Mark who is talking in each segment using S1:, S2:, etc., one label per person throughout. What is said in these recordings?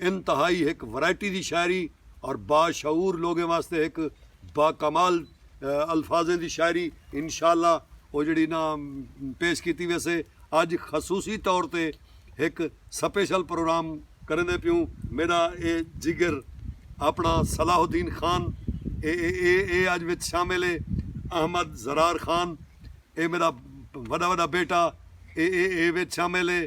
S1: انتہائی ہک ورائٹی دی شاعری اور با شعور لوگیں واسطے ہک با کمال الفاظیں دی شاعری انشاءاللہ او جیڑھی نا پیش کیتی ویسے اج خصوصی طور تے ہک سپیشل پروگرام کریندے پیوں میڈا اے جگر اپنا صلاح الدین خان اے اے اے اج وچ شامل اے احمد ضرار خان اے میڈا وڈا وڈا بیٹا اے اے اے وچ شامل اے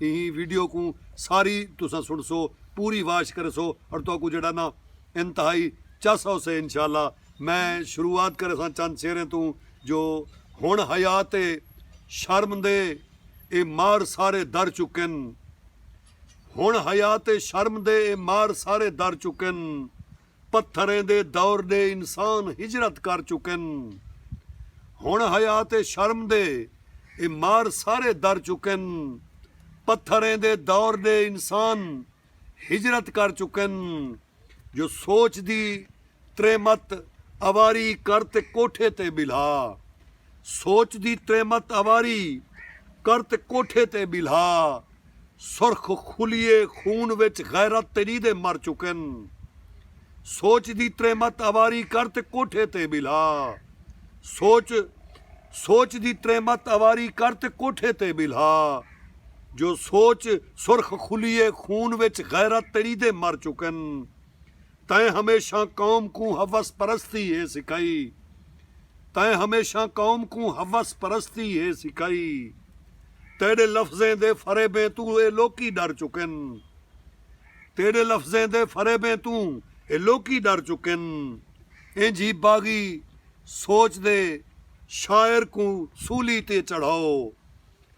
S1: ایں ویڈیو کوں ساری تساں سنڑسو پوری واچ کرسو اور تہاکوں جیڑھا نا انتہائی چس آوسے انشاءاللہ میں شروعات کرساں چند شعریں توں جو ہنڑ حیات اے شرم دے اے مار سارے در چکن ہنڑ حیات اے شرم دے اے مار سارے در چکن پتھریں دے دور دے انسان ہجرت کر چکن۔ ہنڑ حیا تے شرم دے اے مار سارے در چکن۔ پتھریں دے دور دے انسان ہجرت کر چکن۔ جو سوچ دی تریمت اواری کر تے کوٹھے تے ٻلھا۔ سوچ دی تریمت اواری کر تے کوٹھے تے ٻلھا سرخ خلیے خون وچ غیرت تیݙی دے مر چکن سوچ دی تریمت اواری کر تے کوٹھے تے ٻلھا سوچ سوچ دی تریمت اواری کر تے کوٹھے تے ٻلھا جو سوچ سرخ خلیے خون وچ غیرت تیݙی دے مر چکن تیں ہمیشاں قوم کوں حوث پرستی ہے سکھائی تیں ہمیشاں قوم کوں حوث پرستی ہے سکھائی تیڈے لفظیں دے فریبیں توں اے لوکی ڈر چکن تیڈے لفظیں دے فریبیں توں اے لوکی ڈر چکن انج ہی باغی سوچ دے شاعر کوں سولی تے چڑھاؤ۔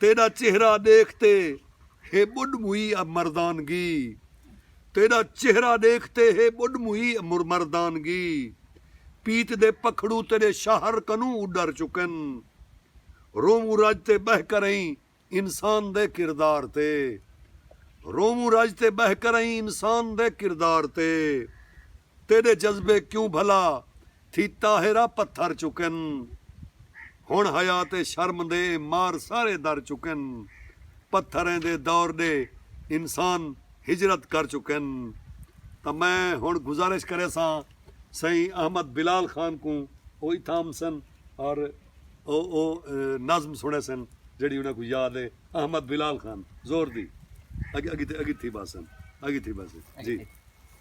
S1: تیݙا چہرہ ݙیکھ تے ہے ٻݙ موئی ء مردانگی تیݙا چہرہ ݙیکھ تے ہے ٻݙ موئی ء مردانگی پیت دے پکھڑو تیݙے شہر کنوں اݙر چکن رووں رج تے ٻہہ کرئیں انسان دے کردار تے رووں رج تے ٻہہ کرئیں انسان دے کردار تے۔ تیݙے جذبے کیوں بھلا تھی طاہرہ پتھر چکن ہݨ حیا تے شرم دے اے مار سارے در چکن پتھریں دے دور ݙے انسان ہجرت کر چکن تاں میں ہݨ گزارش کریساں سئیں احمد بلال خان کوں او اتھاں امسن اور او او نظم سݨیسن جیڑھی انہاں کوں یاد اے احمد بلال خان زور دی اڳ اڳ اڳ تھی ٻہسن اڳ تھی ٻہسن جی۔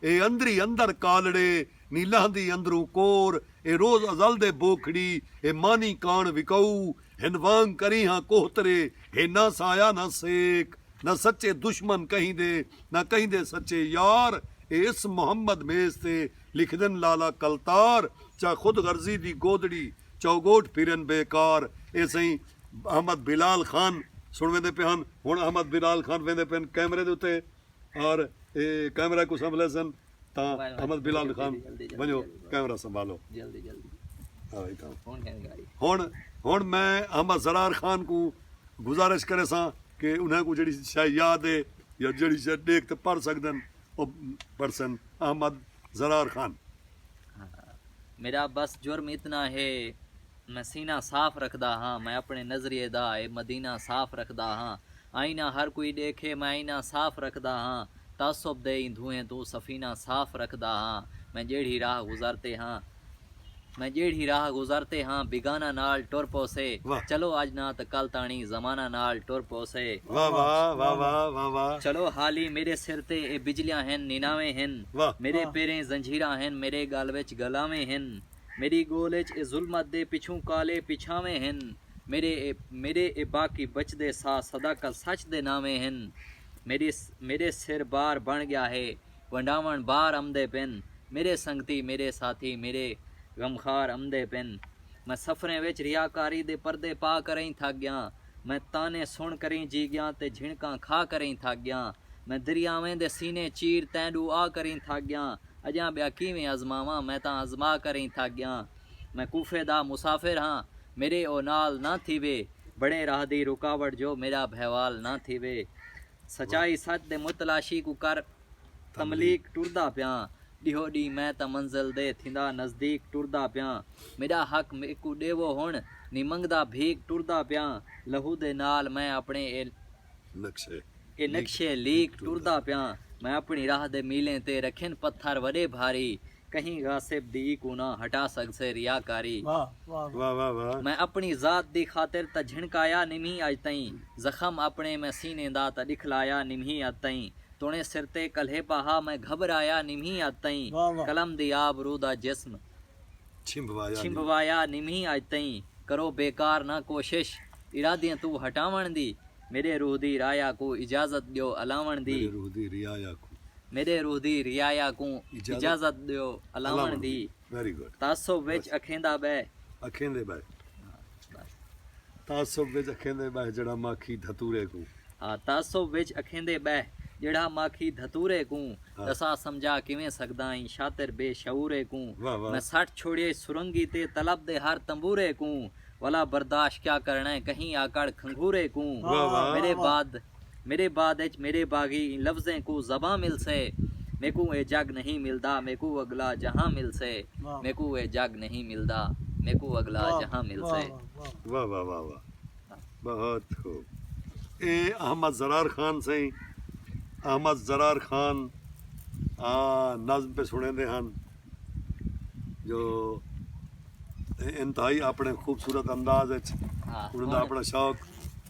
S1: اے اندری اندر کالڑے نی لہندی اندروں کور اے روز ازل دے بوکھڑی اے مانی کاݨ وکاؤ ہن وانگ کریہاں کوہترے ہے نہ سایہ نہ سیک نہ سچے دشمن کہیں دے نہ کہیں دے سچے یار اے اس محمد میز تے لکھدن لالا کلتار چا خود غرضی دی گودڑی چوگوٹ پھرن بے کار اے سئیں احمد بلال خان سݨ ویندے پئے ہن ہݨ احمد بلال خان ویندے پئے ہن کیمرے دے اتے۔ اور کیمرہ کوں سنبھلے سن تاں احمد بلال خان ونجو کیمرہ سنبھالو
S2: ہن ہن میں
S1: احمد سرار خان کوں گزارش کرے ساں کہ انہاں کوں جڑی شے یاد ہے یا جڑی شے ڈیکھ تے پڑھ سکدن او پڑھ سن احمد سرار خان
S2: میرا بس جرم اتنا ہے میں سینہ صاف رکھدا ہاں میں اپݨے نظریے دا اے مدینہ صاف رکھدا ہاں آئینہ ہر کوئی ݙیکھے میں آئینہ صاف رکھدا ہاں تعصب دے ایں دھوئیں توں سفینہ صاف رکھدا ہاں میں جیڑھی راہ گزرتے ہاں میں جیڑھی راہ گزرتے ہاں بیگانہ نال ٹر پوسے چلو اڄ نہ تاں کل تاݨی زمانہ نال ٹر پوسے
S1: چلو حالی میݙے
S2: سر تے اے بجلیاں ہن نیناویں ہن میݙے پیریں زنجیراں ہن میݙے ڳل وچ ڳلاویں ہن میݙی ڳول اچ اے ظلمت دے پچھوں کالے پچھانویں ہن میݙے میݙے اے باقی بچدے ساہ صداقت سچ دے ناویں ہن میݙی میݙے سر بار بݨ ڳیا ہے ونڈاوݨ بار امدے پن میݙے سنگتی میݙے ساتھی میݙے غمخار امدے پن میں سفریں وچ ریاکاری دے پردے پا کرئیں تھک ڳیاں میں طعنے سݨ کرئیں جی ڳیاں تے جھنکاں کھا کرئیں تھک ڳیاں میں دریاویں دے سینے چیر تینݙو آ کرئیں تھک ڳیاں اجاں ٻیا کیویں آزماواں میں تاں آزما کر ای تھک ڳیاں میں کوفے دا مسافر ہاں میݙے او نال نہ تھیوے بݨے راہ دی رکاوٹ جو میݙا بھیوال نہ تھیوے سچائی سچ دے متلاشی کوں کر تملیق ٹردا پیاں ݙیہو ݙینہہ میں تاں منزل دے تھیندا نزدیق ٹردا پیاں میݙا حق میکوں ݙیوو ہݨ نی منگدا بھیک ٹردا پیاں لہو دے نال میں اپݨے اے نقشے اے نقشے لیک ٹردا پیاں میں اپݨی راہ دے میلیں تے رکھن پتھر وݙے بھاری کہیں غاصب دی کوں نہ ہٹا سڳسے ریاکاری میں اپݨی ذات دی خاطر تاں جھنکایا نمہیں اڄ تئیں زخم اپݨے میں سینے دا تاں ݙکھلایا نمہیں اڄ تئیں توݨے سر تے کلھے پاہا میں گھٻرایا نمہیں اڄ تئیں قلم دی آب روح دا جسم چھمبوایا نمھی اج تئیں کرو بیکار نہ کوشش ارادیں توں ہٹاوݨ دی میݙے روح دی رایا کوں اجازت ݙیو الاوݨ دی میݙے روح دی رعایا کوں اجازت ݙیو الاوݨ دی تعصب
S1: وچ اکھیندا
S2: ٻہہ۔
S1: تعصب وچ اکھیندے ٻہہ جیڑھا ماکھی دھتورے کوں۔ ہا تعصب
S2: وچ اکھیندے ٻہہ جیڑھا ماکھی دھتورے کوں۔ ݙسا سمجھا کیویں سڳداں ایں شاطر بے شعورے کوں۔ میں سٹ چھوڑیئے سرنگی تے طلب دے ہر تنبورے کوں۔ ولا برداشت کیا کرݨے کہیں آکڑ کھنگھورے کوں۔ میݙے بعد۔ میݙے بعد اچ میݙے باغی ایں لفظیں کوں زباں ملسے میکوں اے جڳ نہیں ملدا میکوں اڳلا جہاں ملسے میکوں اے جڳ نہیں ملدا میکوں اڳلا جہاں ملسے۔ واہ واہ واہ
S1: واہ بہت خوب اے احمد ضرار خان سئیں احمد ضرار خان آ نظم پہ سنڑیندے ہن جو انتہائی اپنڑے خوبصورت انداز اچ انہاں دا اپنڑا شوق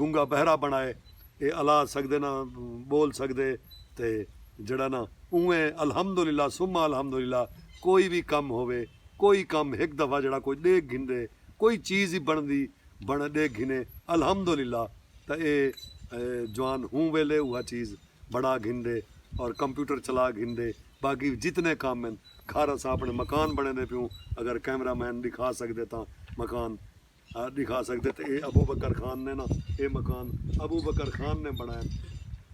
S1: گنگا بہرا بنڑائے اے الا سگدے نہ بول سگدے تے جیڑھا نہ اونویں الحمدللہ ثم الحمدللہ کوئی وی کم ہووے کوئی کم ہک دفعہ جیڑھا کوئی ڈیکھ گھندے کوئی چیز ای بنڑدی بنڑ ڈیکھ گھنے الحمدللہ تاں اے جوان ہوں ویلے اوہا چیز بنڑا گھندے اور کمپیوٹر چلا گھندے باقی جتنے کم ہن گھر اساں اپنڑے مکان بنڑیندے پیوں اگر کیمرہ مین ڈکھا سگدے تاں مکان ڈکھا سکدے تے اے ابو بکر خان نے نا اے مکان ابو بکر خان نے بنائن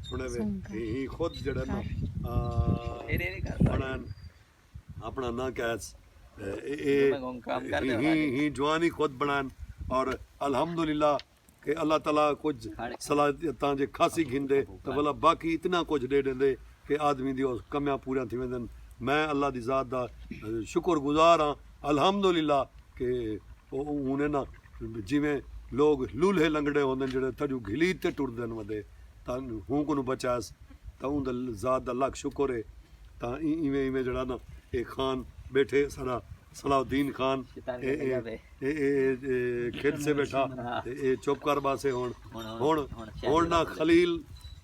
S1: سنے وے ہی خود جڑے نا بنائن اپنا نا کہس اے ہی جوانی خود بنائن اور الحمدللہ کہ اللہ تعالی کچھ صلاحیتاں جے کھاسی گھن دے تو بلا باقی اتنا کچھ دے دیں دے کہ آدمی دی کمیاں پوریاں تھی ویندن میں اللہ دی ذات دا شکر گزار ہاں الحمدللہ کہ او ہن انہاں جیویں لوگ لولھے لنگڑے ہوندن جیڑھے تھڈو گھلیت تے ٹردن ودے تاں ہوں کنوں بچائس تاں اوں دے ذات دا لکھ شکر ہے تاں ایویں ایویں جیڑھا نا اے خان بیٹھے ساڈا صلاح الدین خان اے اے اے اے کھد سے بیٹھا تے اے چپ کر باسے ہن ہن ہن نا خلیل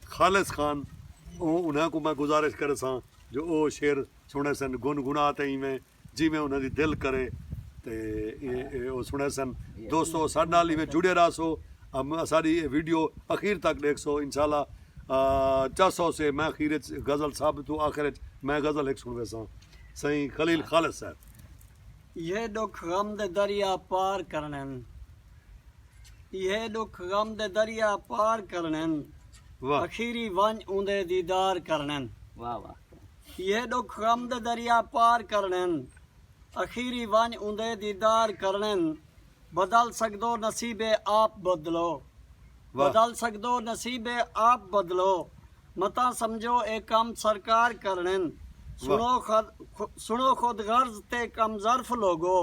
S1: خالص خان اوں انہاں کوں میں گزارش کرساں جو او شعر سنڑیسن گنگنا تے ایویں جیویں انہاں دی دل کرے تے او سنڑیسن دوستو اساڈے نال ایویں جڑے راہسو اساڈی اے ویڈیو اخیر تک ڈیکھسو انشاءاللہ چاہسو سے میں اخیر اچ غزل سب توں آخر اچ میں غزل ہک سنڑویساں سئیں خلیل خالص صاحب۔ ایہے
S3: ڈکھ غم دے دریا پار کرݨے ہن ایہے ڈکھ غم دے دریا پار کرݨے ہن اخیری ونج اوندے دیدار کرݨے ہن۔
S2: ایہے ݙکھ
S3: غم دے دریا پار کرݨن۔ اخیری ونڄ اوندے دیدار کرݨن۔ بدل سڳدو نصیبے آپ بدلو۔ بدل سڳدو نصیبے آپ بدلو۔ متاں سمجھو اے کم سرکار کرݨن۔ سݨو سݨو خود غرض تے کم ظرف لوگو۔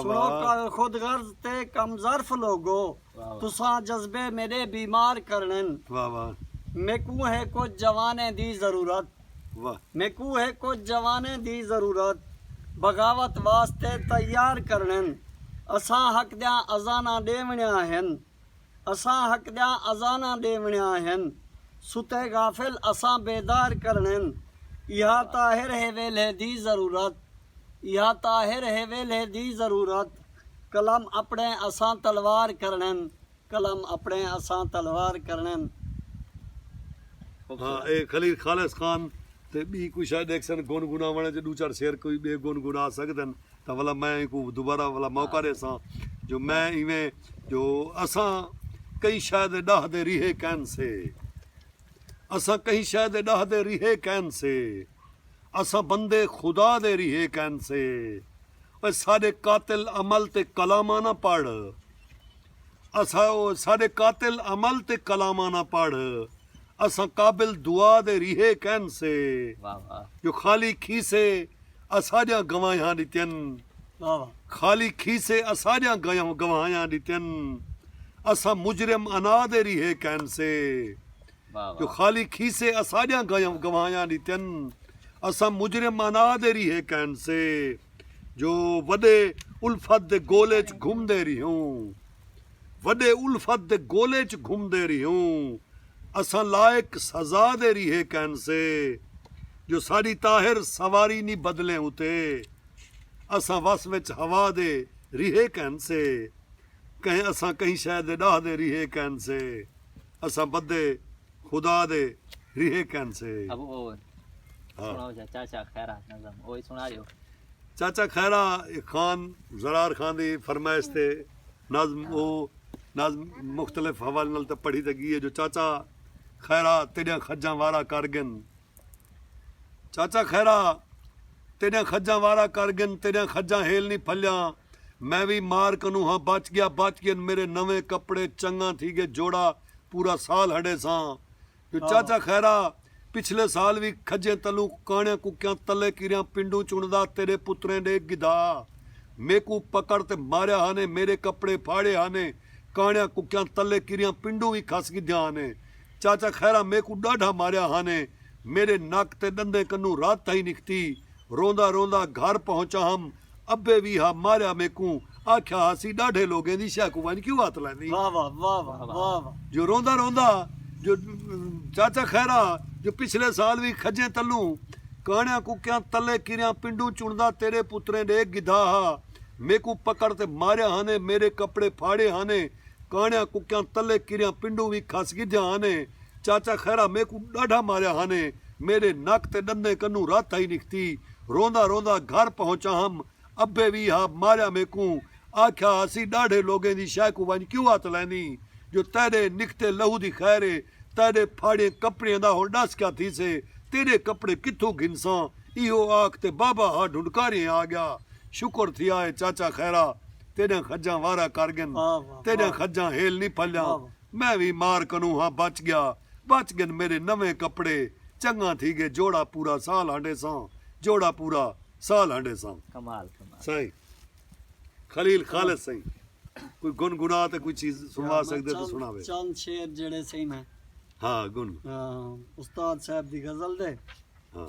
S3: سݨو خود غرض تے کم ظرف لوگو۔ تساں جذبے میݙے بیمار کرݨن میکوں ہے کجھ جوانیں دی ضرورت میکوں ہے کجھ جوانیں دی ضرورت بغاوت واسطے تیار کرݨن اساں حق دیاں اذاناں ݙیوݨیاں ہن اساں حق دیاں اذاناں ݙیوݨیاں ہن ستے غافل اساں بیدار کرݨن ایہا طاہر ہے ویلھے دی ضرورت ایہا طاہر ہے ویلھے دی ضرورت قلم اپݨے اساں تلوار کرݨن قلم اپݨے اساں تلوار کرݨن۔
S1: ہاں اے خلیل خالص خان تے ٻی کوئی شئے ݙیکھسن گن گناوݨ اچ ݙو چار شعر کوئی ٻئے گن گنا سڳدن تاں ولا میں اینکوں دوبارہ ولا موقع ݙیساں جو میں ایویں جو اساں کہیں شئے دے ݙاہ دے ریہے کین سے اساں کہیں شئے دے ݙاہ دے ریہے کین سے۔ اساں بندے خدا دے ریہے کین سے اوئے ساڈے قاتل عمل تے کلاماں نہ پڑھ اساں اوئے ساڈے قاتل عمل تے کلاماں نہ پڑھ اساں قابل دعا دے ریہے کین سے جو خالی کھیسے اساڈیاں گواہیاں ڈتین خالی کھیسے اساڈیاں گواہیاں ڈتین اساں مجرم اناں دے ریہے کین سے۔ جو خالی کھیسے اساݙیاں گواہیاں ݙتن اساں مجرم انا دے ریہے کین سے جو وݙے الفت دے گول اچ گھمدے ریہوں وݙے الفت دے گول اچ گھمدے ریہوں اساں لائق سزا دے ریہے کین سے جو ساݙی طاہر سواری نی بدلیں اتے اساں وس وچ ہوا دے ریہے کین سے کہیں اساں کہیں شے دے ݙاہدے ریہے کین سے۔ اساں بدے خدا دے ریہے کین سے ابو
S2: او سناؤ جا چاچا خیرہ نظم
S1: اوہی سنا دیو چاچا خیرہ خان زرار خان دی فرمائش تے نظم او نظم مختلف حوالے نال تے پڑھی تے گی ہے جو چاچا خیرہ تیڈیاں خجاں وارا کر گن چاچا خیرا تیڈیاں کھجاں وارا کر گن تیڈیاں کھجاں ہیل نی پھلیاں میں وی مار کنوں ہاں بچ گیا بچ گئن میرے نویں کپڑے چنگاں تھی گئے جوڑا پورا سال ہڈے ساں جو چاچا خیرا پچھلے سال وی کھجیں تلوں کانڑیاں ککیاں تلے کیریاں پنڈوں چنڑدا تیڈے پتریں ڈے گدھا میکوں پکڑ تے ماریا ہانے میرے کپڑے پھاڑے ہانے کانڑیاں ککیاں تلے کیریاں پنڈوں وی کھس گدھیاں ہانے چاچا خیرا میکوں ݙاڈھا ماریا ہانیں میݙے نک تے ݙندیں کنوں رت تھئی نکتی روندا روندا گھر پہنچا ہم ابے وی ہا ماریا میکوں آکھیا ہاسی ݙاڈھے لوگیں دی شے کوں ونج کیوں ہتھ لیندی
S3: جو روندا روندا
S1: جو چاچا خیرا جو پچھلے سال وی کھجیں تلوں کانڑیاں کوکیاں تلے کریاں پنڈوں چنڑدا تیڈے پتریں ڈے گدھا ہا میکوں پکڑ تے ماریا ہانیں میڈے کپڑے پھاڑے ہانیں کانڑیاں ککیاں تلے کریاں پنڈوں وی کھس گھدیاں ہن چاچا خیرا میکوں ڈاڈھا ماریا ہن میڈے نک تے ڈندیں کنوں رت ہئی نکھتی روندا روندا گھر پہنچا ہم ابے وی ہا ماریا میکوں آکھیا ہاسی ڈاڈھے لوگیں دی شے کوں ونج کیوں ہتھ لیندیں جو تیڈے نکھتے لہو دی خیر اے تیڈے پھاڑیں کپڑیں دا ہن ڈس کیا تھیسے تیڈے کپڑے کتھوں گھنساں ایہو آکھ تے بابا ہا ڈھنڈکاریئیں آگیا شکر تھیا اے چاچا خیرا تیݙاں کھجاں وارا کر ڳن تیݙاں کھجاں ہیل نی پھلیاں میں وی مار کنوں ہاں بچ ڳیا بچ ڳن میݙے نویں کپڑے چنڳاں تھی ڳئے جوڑا پورا سال ہنڈیساں جوڑا پورا سال ہنڈیساں۔ کمال کمال سائیں خلیل خالص سائیں کوئی گن گنا تے کوئی چیز سنوا سکدے تے سناوے چند شعر جیڑھے
S3: سئیں میں ہاں گن
S1: ہاں استاد
S3: صاحب دی غزل دے ہاں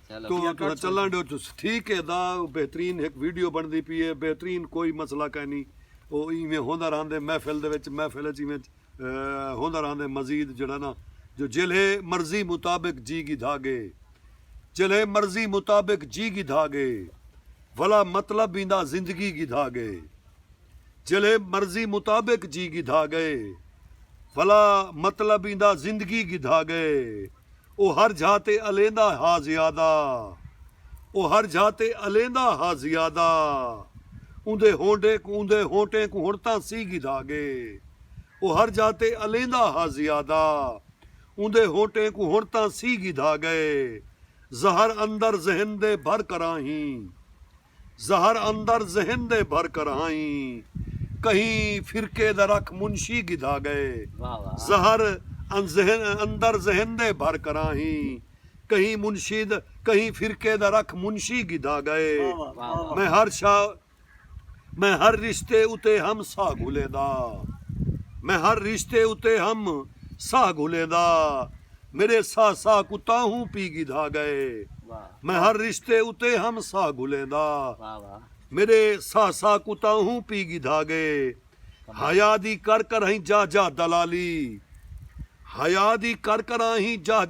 S1: تہاں تہاں چلن ڈیو چس ٹھیک ہے دا بہترین ہک ویڈیو بندی پی ہے بہترین کوئی مسئلہ کائ نی او ایویں ہوندا رہندے محفل دے وچ محفل اچ ایویں ہوندا رہندے مزید جڑا نا جو جلھے مرضی مطابق جی گھدا گے جلھے مرضی مطابق جی گھدا گے ولا مطلب ایندا زندگی گھدا گے۔ جیلھے مرضی مطابق جی گھدا گئے ولا مطلب ایندا زندگی گھدا گئے او ہر جھا تے الیندا ہا زیادہ او ہر جھا تے الیندا ہا زیادہ اوندے ہونڈے کوں اوندے ہونٹیں کوں ہن تاں سی گھدا گئے او ہر جھا تے الیندا ہا زیادہ اوندے ہونٹیں کوں ہن تاں سی گھدا گئے زہر اندر ذہن دے بھر کراہیں زہر اندر ذہن دے بھر کرہائیں کہیں فرقے دا رکھ منشی گدھا گئے زہر اندر ذہن دے بھر کرہائیں کہیں منشی کہیں فرقے دا رکھ منشی گدھا گئے میں ہر شا میں ہر رشتے اتے ہم ساہ گھلیں دا میں ہر رشتے اتے ہم ساہ گھلیں دا میڈے ساہ ساہ کو تاہوں پی گدھا گئے میں ہر رشتے اتے ہم ساہ گھلیندا میݙے ساہ ساہ کوں تاں اہوں پی گھدا ڳئے حیا دی کر کر ہیں جاہ جاہ دلالی حیا دی کر کر آہیں جاہ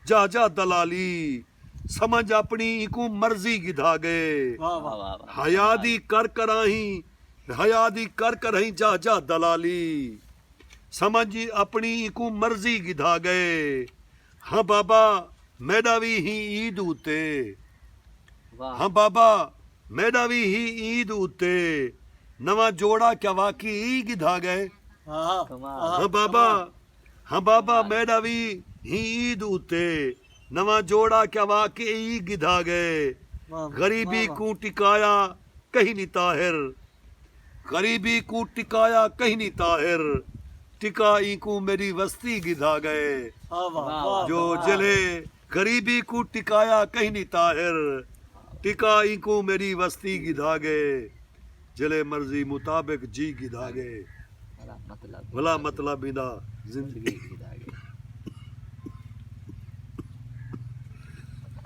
S1: جاہ جاہ دلالی سمجھ اپݨی اینکوں مرضی گھدا ڳئے حیا دی کر کر آہیں حیا دی کر کر ہیں جاہ جاہ دلالی سمجھ اپݨی اینکوں مرضی گھدا ڳئے ہاں بابا میڈا وی ہی عید اتے ہاں بابا میڈا وی ہی عید اتے نواں جوڑا کیا واقعی ای گدھا گئے ہاں بابا ہاں بابا میڈا وی ہی عید اتے نواں جوڑا کیا واقعی ای گدھا گئے غریبی کوں ٹکایا کہنی طاہر غریبی کوں ٹکایا کہنی طاہر ٹکا اینکوں میڈی وستی گدھا گئے جو جلھے غریبی کوں ٹکایا کہنی طاہر ٹکا اینکوں میڈی وستی گدھا گئے جلھے مرضی مطابق جی گدھا گئے بھلا مطلب ایندا زندگی گدھا گئے۔